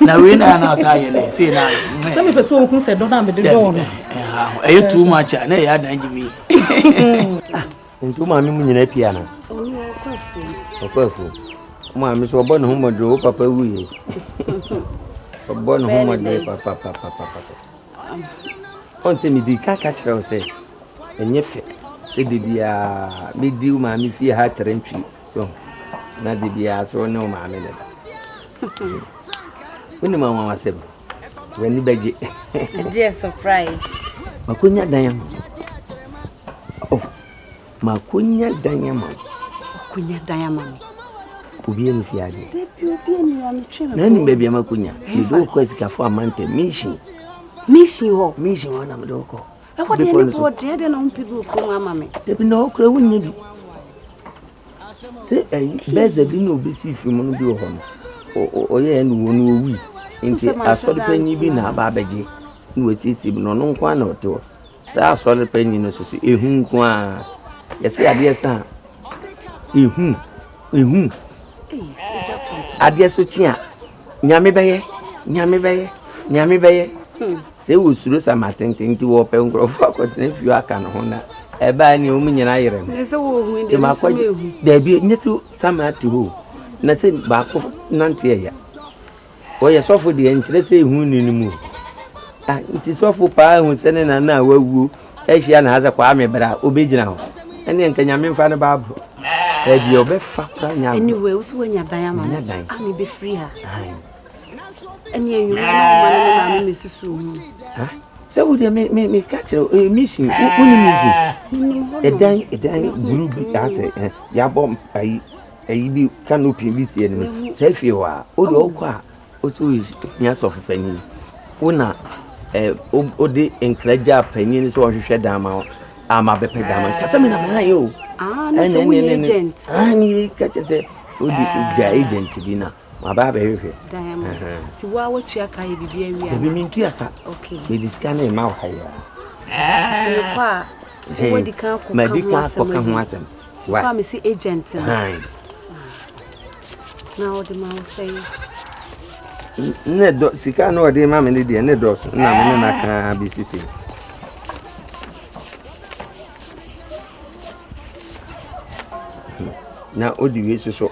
na wei na na ɔsɛ ayɛ dɛ sei na ayɛ sɛ mepɛ sɛ ɔhu sɛ dɔ no a mede dɔɔ no ɛyɛ too much a na ɛyɛ adan gye me nti wo maame mu nyina pia no ɔkɔ afuo maame so ɔbɔ ne ho mmɔdere wo papa wuye ɔbɔ ne ho mmɔdere papapapapa ɔn sɛ medi ka ka kyerɛ wo sɛ ɛnyɛ fɛ sɛ da biaa mɛdi wo maame fie ha trɛntwi So na de biara so wo ne wo maame na ɛda? Wonim anwanwasɛm? W'ani bɛgye. Gye surprise. Makonya dan ama wo. Oh, makonya dan ama wo. Makonya dan ama me. Obi ani fi ade. Dabi obi ani ya me twɛn. Na nim baabi ama konya. Me do kɔ asikafo amanta mission. Mission hɔ. Mission hɔ na me do kɔ. Ɛhɔ deɛ ne boɔ deɛ deɛ na wompɛ bi wɔ kurom ama me. Dabi na ɔkura wo nyɛ bi. Sɛ ɛyi bɛɛsɛ bi na obi si fi mu no bi wɔ hɔ no. Ɔyɛ ɛna wɔn no owi. Nti asɔre panyin bi na aba abɛgye na wasiesie bi na ɔno nko na ɔte hɔ. Sɛ asɔre panyin no soso ehu nko a yɛsɛ adeɛ sɛ a ehu ehu adeɛ so kyi a. Nyame bɛyɛ, Nyame bɛyɛ, Nyame bɛyɛ. Sɛ wosuro sa ma tenten nti wɔpɛ nkurɔfoɔ akɔtena fie aka ne ho na ɛbaa ni wɔn nyinaa yere no. Nti makɔ daabi nyɛ sɛ sama ate hɔ na sɛ baako nante ɛya. Wɔyɛ sɔfo deɛ nkyerɛ sɛ ehu ni ne mu. Nti sɔfo paa ehu sɛ ne nana a wawuo. Ahyia na asɛ Kwame bra obegyina hɔ ɛneɛ nka nyame nfa no baa bro ɛɛ deɛ ɔbɛfa kora nya agorɔ. Anyway wo sɛ wanya dan ama me a me bɛfiri ha. Ɛne anwuma na wo ma no me maame me susu ho. Sɛ wo deɛ me me me ka kyerɛ mission wo ni mission. Ɛdan ɛdan buru bi asɛ yabɔ ayi ayi bi canopy bi si ɛni sɛ fie hɔ a o deɛ ɔkɔ a. Wo so hia sɔfo panyin. Wo na eh, wode nkra gyaa panyin no sɛ ɔnhwehwɛ dan ma wo a mabɛpɛ dan ma ka sɛ mena mayɛ o ah, ɛne ka kyɛ sɛ wode ah. gya agent bi na mabaa bɛhwehwɛ nti woa wotua ka yɛ biribi awia dabi mentua ka mede sika no ɛma wayɛ a madi ka kɔka ho asɛm Ti kɔ a me si agent no. Na ɔde ma wo sɛ yi. Ne dɔ sika na ɔde ma me ne deɛ ne dɔɔso na me ne na kaa bi sisi. Na odi wei soso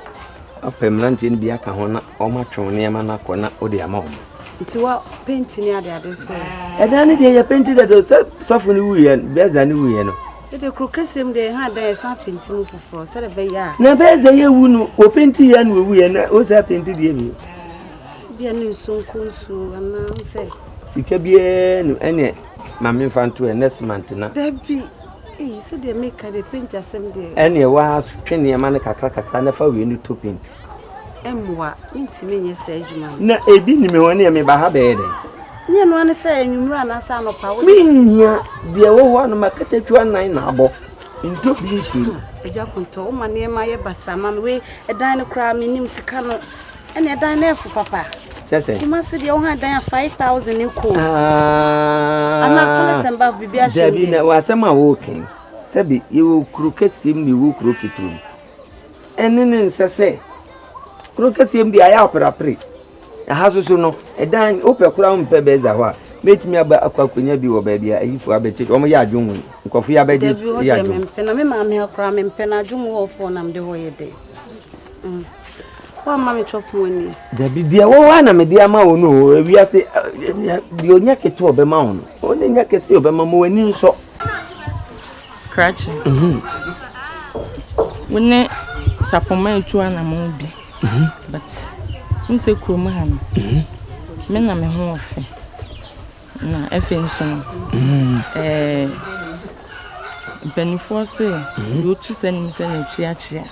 apɛ mmeranteɛ no bi aka ho na wɔatwe wo nneɛma no akɔ na wode ama wɔn nti wa penti ne ade ade so ɛdan no deɛ yɛ penti dada sɛ sɔfo no wuiɛ bɛza no wuiɛ no Ede koro kese mu deɛ, ha dɛn ɛsan penti mu foforɔ sɛdeɛ ɛbɛyɛ a. Na bɛyɛ sɛ yɛwu no, wɔpenti yɛ na wɔwu yɛ na wɔsan penti deɛ bio. Deɛ ne nsuo nko nsuo anaa sɛ. Sika biara no ɛneɛ maame nfa nto ɛ next month na. Dabi eyi sɛdeɛ meka deɛ penti asɛm deɛ. Ɛneɛ wɔatwe nneɛma no kakra kakra na fa wei no to penti. mmoa mentumi nyɛ saa adwuma no. na ebi nim hɔ ne meba ha bɛyɛ dɛn nyɛ no ane sɛ anwummerɛ anaasɛ anɔpa wo menhia deɛ wɔ hɔ anoma katakyiwa nan na abɔ ntɔ bi nhyɛ mu agya kontɔ wo ma nneɛma yɛ basa ma me wei ɛdan no koraa menim sika no ɛne ɛdan no ɛfo papa sɛ sɛ kuma se deɛ wo ha dan a 5000 ne kɔ ana toilet and bath biribi ahyɛ dabi na wasɛm a wɔɔken sɛbi yɛwɔ kuro kɛseɛ mu ne yɛwɔ kuro ketewa mu ɛne ne nsɛ sɛ kuro kɛseɛ mu deɛ ayɛ aperapere ɛha soso no ɛdan wopɛ koraa wompɛ bɛza hɔ a mɛtumi aba akɔ akɔnya bi wɔ baabi a ayifoɔ abɛkye wɔn yɛ adwo mu nkurɔfoɔ yɛ abɛgye yɛ adwo mu mempɛ na me maame akora mempɛ na adwo mu hɔfoɔ nam de hɔ yɛ dɛ mm. woamma me chɔp mu ani dabi deɛ wɔwɔ a na mede ama wo no o ewiase eh, eh, eh, deɛ ɔnya ketewa ɔbɛma wo no ɔne nya kɛse ɔbɛma ma w'ani nsɔ krakye. Wo ne sapɔmma etu anamɔn bi. But wohu sɛ kurom ha no, me na me ho wɔ fɛ. Na afei nso no, ɛɛ mpanimfoɔ se deɛ ɔtu sɛ anim sɛ na akyi akyea.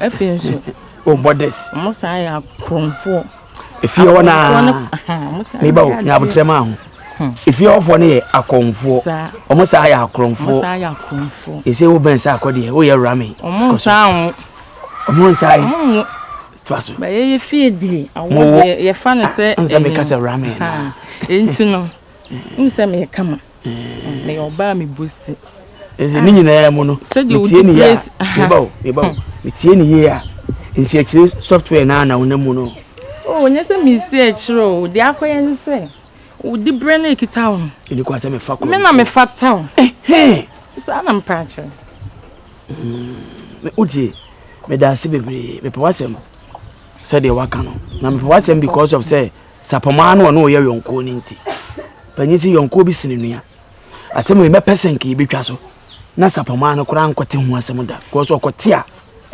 Afei nso. O borders. Mo saa yɛ akorɔmfoɔ. Efie hɔ naa. Ne ba o nyɛ abotire maa ho. Hmm. Efie hɔfoɔ no yɛ akɔnfoɔ. Wɔn saa yɛ akorɔmfoɔ. Ese wo bɛn saa akɔ deɛ o yɛ rame. Wɔn nsa ho. Wɔn nsa yi. To aso. Bɛyɛ yɛ fie die. Awɔ yɛ fa ne sɛ. Nsa mi kasa rame. Nti no. Nsa mi yɛ kama. Ɛsɛ ne nyinaa mu no, metie ne yie a, meba o, meba o, metie ne yie a, nsiakyire software no a na wonam mu no. O, nyɛ sɛ mesi akyire o, deɛ akɔyɛ ne sɛ, wodi berɛ no ɛkita wo no. Ɛni kwan sɛ mefa koro. Me na mefata o. Saa na mepɛ akyerɛ. Wogye, meda ase bebree, mepɛ w'asɛm sɛdeɛ waka no, na mepɛ w'asɛm because of sɛ, Sapɔmɔ ara na ɔne wo yɛ yɔnkoɔ no nti. Panyin se yɔnkoɔ bi sene nua. Asɛm wei mɛpɛ sɛ nka yɛbɛtwa so na sapɔmɔ ara no koraa nkɔte ho asɛm da. Because ɔkɔte a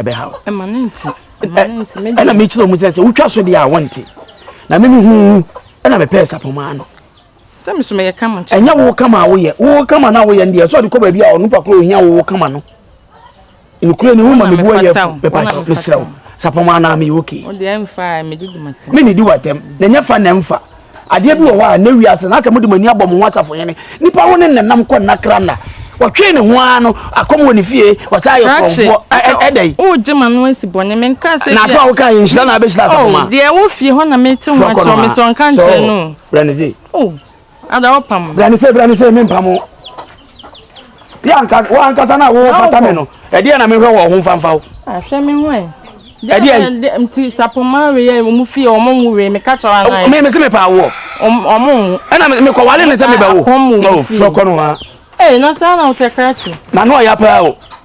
ɛbɛha wo. Ɛma ne nti. Ɛma ne nti. Ɛna mekyerɛ mu sɛ sɛ wotwa so deɛ a wɔnte. Na me mehuhu ɛna mepɛɛ sapɔmɔ ara no. Sɛ me so meyɛ kama kyɛ. Ɛnyɛ wo kama a woyɛ. Wo kama no a woyɛ no deɛ, ɛsɛ ɔde kɔ baabi a onipa koro ohia wo kama no. Nokorɛ ni wo ma mebu ayɛ fo. Mepatɔ, mesrɛ wo. Sapɔm anaa meyɛ okay. Wo deɛ mfa a, medi di m'atɛm. Me ne di w'atɛm. Na nyɛ fa na mfa. Adeɛ bi wɔ hɔ a, na wiase na sɛ mode mo ani abɔ mo ho asafo hene. Nipa wo ne nenam kɔ nna kra nna. Wɔtwee ne ho ara no, akɔm wɔ ne fie, wɔsan ayɛ korɔmfoɔ. Ɛdɛ yi. Wogye ma no asi bɔne. Menkaa sɛ deɛ. Na asɛm a wokaa yɛ nhyira na abɛhyira asafo ma. Oh, deɛ ɛwɔ fie hɔ na mete ho akyerɛ wo, mesɛ ɔnka nkyerɛ no o. Bra ne se. Oh, ada wo pam. Bra ne se, bra ne se, me mpam wo. Yɛ anka, wo ankasa na wo fata me no. Ɛdeɛ na mehwɛ wɔ ho mfamfa wo. Ahwɛ me ho ɛ. Ɛdeɛ yi. Nti sapoma weyɛ ɔmo fie ɔmo nwo wei meka kyerɛ wo anan. Me me se me paa woɔ. Ɔmo nwo. Ɛna me kɔ wale ne sɛ me bɛ wo. Apɔm wo fie. Frɛ kɔ no ha. Ee na saa na wo sɛ krakye. Na no ɔya paa o.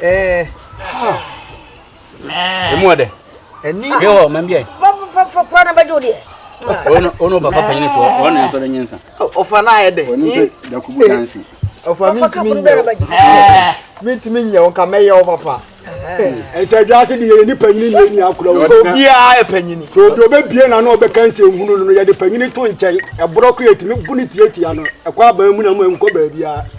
Eh. Ah. Emu ade. Ani. Bi ho man bi ai. Papa papa kwa na bajo de. Ono ono papa panyin to. Ono enso de nyensa. Ofa na aye de. Ono se da kubu dansi. Ofa mi ntimi nya. Mi ntimi nya on ka meye o papa. Ese adwa se de ye ni panyin ni ni akura wo. Obi a e panyin. To do be bie na na obeka nse hunu no ye de panyin to nkyɛn. Ebro ko yetimi bu ne tietia no. Ekwa ba mu na mu enko ba bia.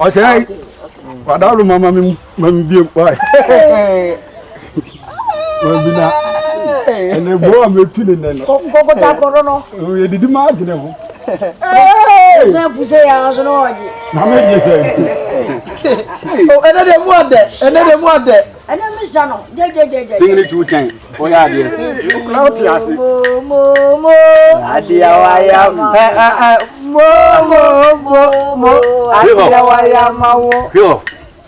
ɔsɛe wada no mama me ma me biem wae mabina ɛnɛ bo a mɛtu ne nɛ no kɔkɔta kɔdɔ no yɛdidi ma adwene ho sɛ puse yɛ so no ɔgye na megye sɛ ɛnɛ dɛ mu adɛ ɛnɛ dɛ mu adɛ ɛnɛ mi sa no gyegyegyegye. singini tu kyɛn ɔyɛ adeɛ. okura ɔte ase. momomo adeɛ waya ɛ ɛ ɛ momomo mo adeɛ waya ma wo. hwɛ hɔ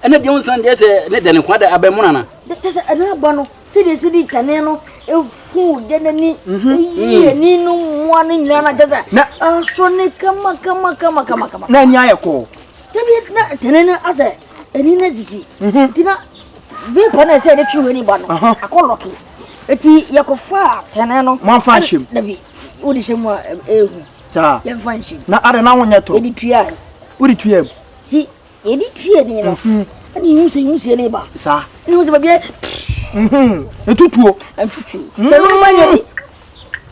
ɛnɛ deɛ nsan deɛ sɛ ne dɛ ne kwan dɛ abɛn mu nana. kyɛ sɛ ɛnɛ aba no sɛdeɛ si di tɛne no ehu deɛ n'ani eyi ani no mmoa no nyinaa na kyɛ sɛ aso ne kama kama kama kama. na ani ayɛ kɔɔ. dabi na tɛne no asɛ. ɛni na sisi mhm. nti na bere pɛ na ɛsɛ yɛde twe w'ani ba no akɔ lɔke nti yɛkɔfa a tɛnɛ no moamfa nhyɛm dabi wode hyɛ mu a ɛhu yɛmfa nhyɛm na ada na wonyɛ toro yɛde tuaa wode tuaa mu nti yɛde tuaa ni no mhm. ɛne hu sɛ hu sie ne ba saa ne hu sɛ baabiɛ ntutuo ntutuo sɛ no ma nyɛ bi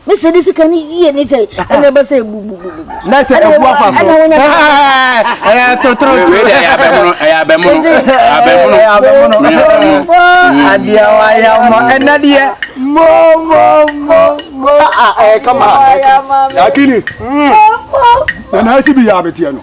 ne sɛ ne sika no yie ne sɛ ɛna ɛbɛ sɛ bubububu na sɛ ɛbu afa so ɛyɛ totoro ɛyɛ abɛmono ɛyɛ abɛmono abɛmono abɛmono adeɛ wayɛ mɔ ɛna deɛ mɔ mɔ mɔ mɔ ɛyɛ kama ɛyɛ kama akini nana asi bi yɛ abeteɛ no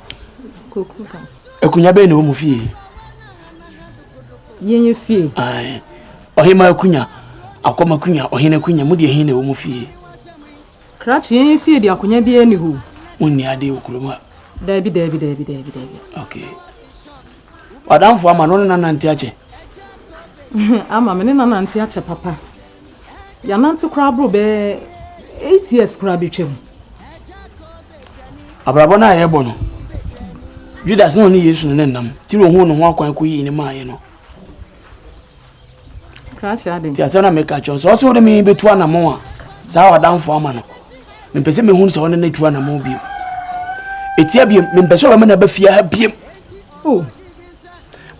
Akunya bɛn na ɛwɔ mu fie? Yɛn yɛ fie. Ɔhema akunya, akɔm akunya, ɔhene akunya, mu deɛ hin na ɛwɔ mu fie? Krakye yɛn yɛ fie deɛ akonya biara ni hɔ. Wonni adeɛ wɔ kurom a? Daabi, daabi, daabi, daabi, daabi. Okay. Wadamfo ama no ne nanante akyɛ? ama me ne nanante akyɛ papa. Yɛanante koraa boro bɛyɛ eight years koraa bɛtwam. Abrabɔ no a yɛrebɔ no, Judas na ɔne Yesu no ne nnam ti na ohuu ne ho akwan kɔyii ne maaeɛ no. Krakyɛ ade. Ti asɛm na meka kyerɛ sɛ ɔsɛ wode me bɛtu anamɔn a saa ɔdamfo ama no mempɛ sɛ mehunu sɛ ɔne no tu anamɔn biom. Ɛtia biom mempɛ sɛ ɔbɛma no aba fie ha biom. Oh.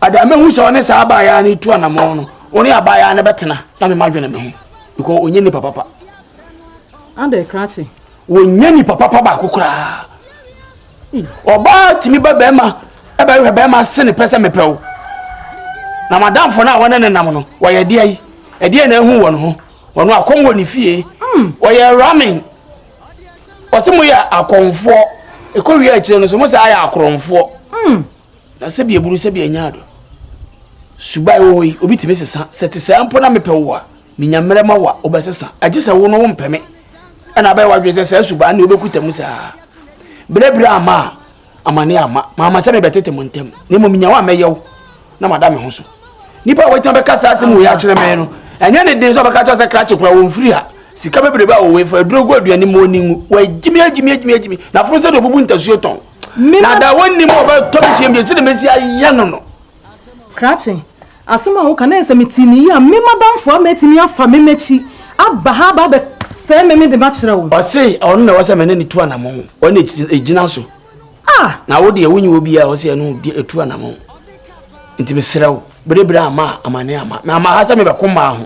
Ade a mehu sɛ ɔne saa abaayaa no tu anamɔn no, ɔne abaayaa no bɛtena na mema dwene me ho because ɔnyɛ nipa papa. Ade krakye. Ɔnyɛ nipa papa baako koraa. Ɔbaa tumi ba bɛrima ɛbɛhwɛ bɛrima se ne pɛ sɛ mepɛ wo. Na madamfo no a wɔne ne nam no, wɔyɛ deɛ yi. Ɛdeɛ na ehu wɔn ho. Wɔn akɔm wɔ ne fie. Hmm. Wɔyɛ ramen. Wɔsi mo yɛ akɔmfoɔ. Ekowie akyire no so mo sɛ ayɛ akorɔmfoɔ. Hmm. Na sɛbi aburu sɛbi anya ado. Suba ɛwɔ hɔ yi, obi tumi sesa. Sɛ te saa mpo na mepɛ wo a, menya mmerɛ ma wo a, wobɛsesa. Agye sɛ wo no wompɛ me. Ɛna abɛyɛ w'adwene sɛ saa suba ne wobɛkuta mu saa. Berɛberɛ amma a, amane amma. Mamma sɛ mebɛtete mo ntam. Na mmom menya wo a mɛyɛ wo na mada me ho so. Nipa a wɔatumi bɛka saa asɛm wɔ yi akyerɛ me no, ɛnyɛ ne den sɛ ɔbɛka kyerɛ sɛ krakye koraa wɔmfiri ha. Sika bebrebe a wɔwɔ yi fa aduro gu aduane mu ɔni ngu. Wɔagyimi agyimi agyimi agyimi. N'afono sɛ deɛ ɔbubu ntasuo tɔn. na da wɔnnim a wɔbɛtɔ me hyeɛ bio sɛdeɛ mɛsi ayɛ no no krakye asɛm a woka na ɛsɛ mete ne yi a me madamfo ama atumi afa me m'akyi aba ha aba abɛsɛe me me de makyerɛ wo ɔse ɔno na ɛwɔ sɛ mene ne tu anamɔ ho ɔne ɛgyina so ah! na wo deɛ wonyi wɔ biaa ɔse ɛno ɛtu anamɔ ho nti mesrɛ wo berebere ama amane ama na ama ha sɛ mebɛko mmaa ho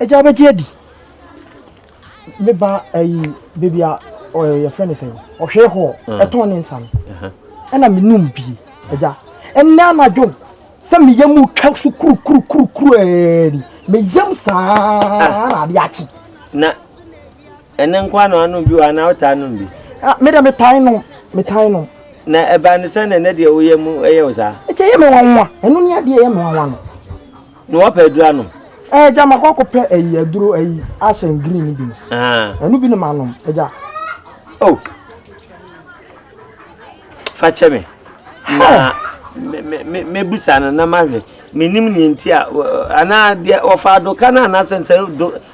ɛgya bɛgye adi meba ayi baabi a yɛfrɛ no sɛn ɔhwɛ hɔ ɛtɔn ne nsa no ɛna menom bie ɛgya ɛnɛ anadwo sɛ meyɛ mu twa so kurukurukurukuru ɛɛni meyam saa na ade akye ɛno nko na wanom bi wɔ anaa wotaa nom bi ah, me deɛ metae nom metae nom na ɛbaa no sɛ na ɛnɛ deɛ woyɛ mu ɛyɛ wo saa ɛkyɛ yɛ me nwanwa ɛno ne adeɛ ɛyɛ me nwanwa no na wɔpɛ aduro anom ɛɛ eh, gya makɔ akɔpɛ ayi aduro ayi ahyɛn green no bi no ah. ɛno bi ne manom ɛgya eh, o oh. fa kyɛ me na mɛbusa no na mahwɛ menim ne nti a anaa deɛ wɔfa adoka no anaasɛ nsɛ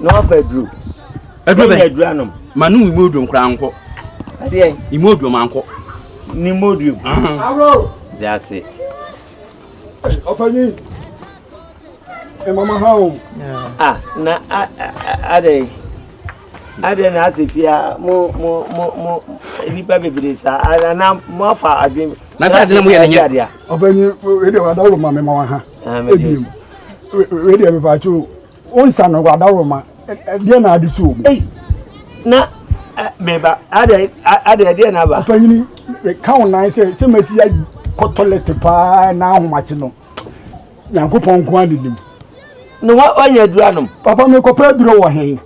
na wafa aduro aduro bɛn aduro anom ma no mu oduro nkora nkɔ adeɛ imu oduro ma nkɔ ne mu oduro gu awuro de ase ɔpanyin mama ha o ah na adɛ Adɛn na asɛ fie a mo mo mo mo nnipa bebree saa anaa mo afa adwene. Na sɛ adi na mo yɛ ne nyɛ. Ɔbɛnyi wede wadawuro ma me ma wa ha. Ebi wede ɛbɛba akyi o nsa no wadawuro ma deɛ na adi so omi. Na meba adɛ adɛ deɛ na ba. Ɔbɛnyi ka wo nan sɛ sɛ mɛsi ya kɔtɔlɛte paa na ahomakye no. Nyankopɔn nko ara na nim. Ne wa ɔnyɛ aduro anom. Papa me kɔpɛ aduro wɔ hen?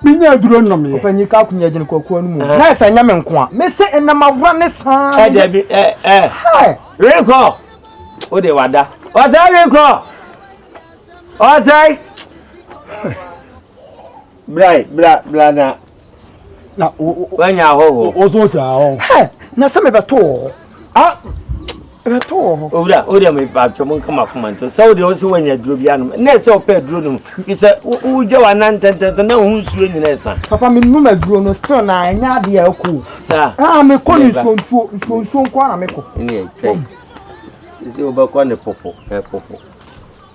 Me nya aduro nnom yɛ. Ɔpɛ nyi ka ko nyɛ gyene kɔkuo no mu. Uh-huh. Na ɛsɛ nyɛ me nko a. Me se ɛnam awura ne saa. Ɛ dɛbi ɛ ɛ. Hi. Renkɔ. O de wada. Ɔsɛ renkɔ. Ɔsɛ. Bra bra bra na. Na wanya hɔ hɔ. O so sa hɔ. Ɛ na sɛ me bɛto hɔ. Ah bɛto hɔ. Owura o de me ba to mo kama koma nto. Sɛ o de o so wanya duro bi anom. Na sɛ o pɛ duro no. Bi sɛ o gya wa nan tɛntɛntɛ na o nsuo nyina ɛsa. Papa me num aduro no still na ɛnyɛ ade a ɛkɔ. Sa. Ah me kɔ ne nsuo nsuo nsuo nsuo nko ara me kɔ. Ne twɛ. Sisi o bɛkɔ ne popo ɛ popo.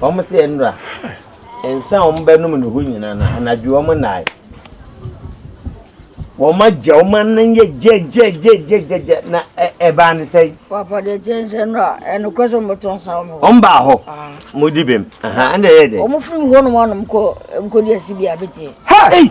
Wɔn se nnora nsa a wɔn bɛnom ne ho nyinaa no, anadwo wɔn nnae. Wɔn agya wɔn anan yɛ gyɛgyɛgyɛgyɛgyɛ na ɛbaa ne sɛ. Wɔapɔde kyɛnkyɛn no a ɛnokorɛ sɛ wɔbɛto nsa wɔn hɔ. Wɔn baa hɔ. Ah. Modi bem. Ɛna ɛyɛ dɛ. Wɔn firi hɔ nom anom kɔ nkɔdi asi bi a bɛtie. Hey!